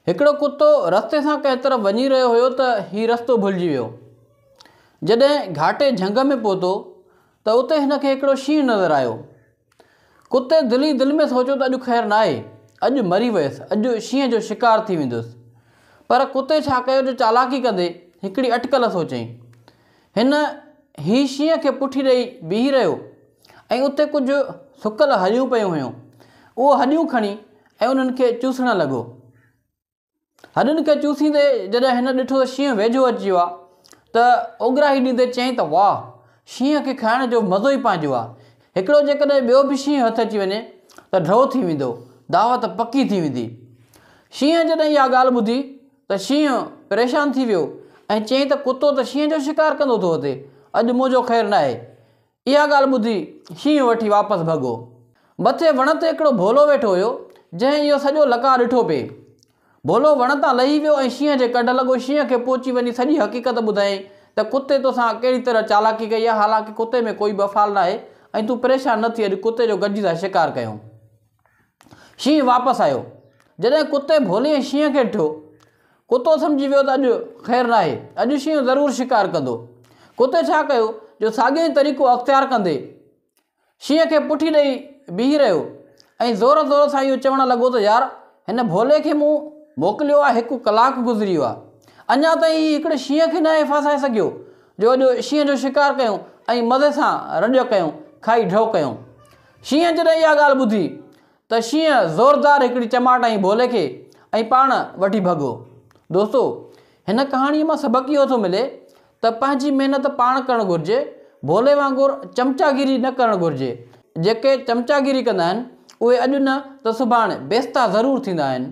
هڪڙو ڪتو رستي سان ڪنهن طرف وڃي رهيو هيو ته هي رستو ڀلجي ويو. جڏهن گهاٽي جهنگ ۾ پهتو ته اتي هن کي هڪڙو شينهن نظر آيو. ڪتي دل ئي دل ۾ سوچيو ته اڄ خير ناهي، اڄ مري ويس، اڄ شينهن جو شڪار ٿي ويندس. پر ڪتي ڇا ڪيو جو چالاڪي ڪندي هڪڙي اٽڪل سوچيائين. هن هي شينهن کي پٺي ڏئي بيهي رهيو ۽ اتي ڪجهه سڪل هڏيون پيون هيون. اهو هڏيون کڻي ۽ انهن کي چوسڻ لڳو. هڏن کي چوسيندي جڏهن هن ڏٺو ته شينهن ويجهو اچي ويو آهي ته اوڳراهي ڏيندي چيائين ته واهه! شينهن کي کائڻ جو مزو ئي پنهنجو آهي. هڪڙو جيڪڏهن ٻيو به شينهن هٿ اچي وڃي ته ڍؤ ٿي ويندو. دعوت پڪي ٿي ويندي. شينهن جڏهن اها ڳالهه ٻڌي ته شينهن پريشان ٿي ويو ۽ چيائين ته ڪتو ته شينهن جو شڪار ڪندو ٿو اٿي، اڄ منهنجو خير ناهي. اها ڳالهه ٻڌي شينهن وٺي واپس ڀڳو. مٿي وڻ تي هڪڙو ڀولو ويٺو هيو، جنهن اهو سڄو لقاء ڏٺو پئي. ڀولو وڻ تان لهي ويو ۽ شينهن جي ڪڍ لڳو. شينهن کي پهچي وڃي سڄي حقيقت ٻڌائين ته ڪتي توسان ڪهڙي طرح چالاڪي ڪئي آهي، حالانڪه ڪتي ۾ ڪوئي به افعال ناهي ۽ تون پريشان نه ٿي اڄ ڪتي جو گڏجي ٿا شڪار ڪيون. شينهن واپس آيو. جڏهن ڪتي ڀولي شينهن کي ڏٺو. ڪتو سمجهي ويو ته اڄ خير ناهي. اڄ شينهن ضرور شڪار ڪندو. ڪتي ڇا ڪيو جو ساڳيو ئي طريقو اختيار ڪندي شينهن کي پٺي ڏئي بيهي رهيو ۽ زور زور سان اهو چوڻ لڳو ته يار هن ڀولي کي مون موڪليو آهي هڪ ڪلاڪ گذري ويو آهي اڃا تائين هي هڪڙي شينهن کي ناهي ڦاسائي سگهيو جو اڄ شينهن جو شڪار ڪيون ۽ مزي سان رڄ ڪيون کائي ڍؤ ڪيون. شينهن جڏهن اها ڳالهه ٻڌي ته شينهن زوردار هڪڙي چماٽ هنئي ڀولي کي ۽ پاڻ وٺي ڀڳو. دوستو! هن ڪهاڻيء مان سبق اهو ٿو ملي ته پنهنجي محنت پاڻ ڪرڻ گهرجي، ڀولي وانگر چمچاگيري نه ڪرڻ گهرجي. جيڪي چمچاگيري ڪندا آهن، اهي اڄ نه ته سڀاڻ بيستا ضرور ٿيندا آهن.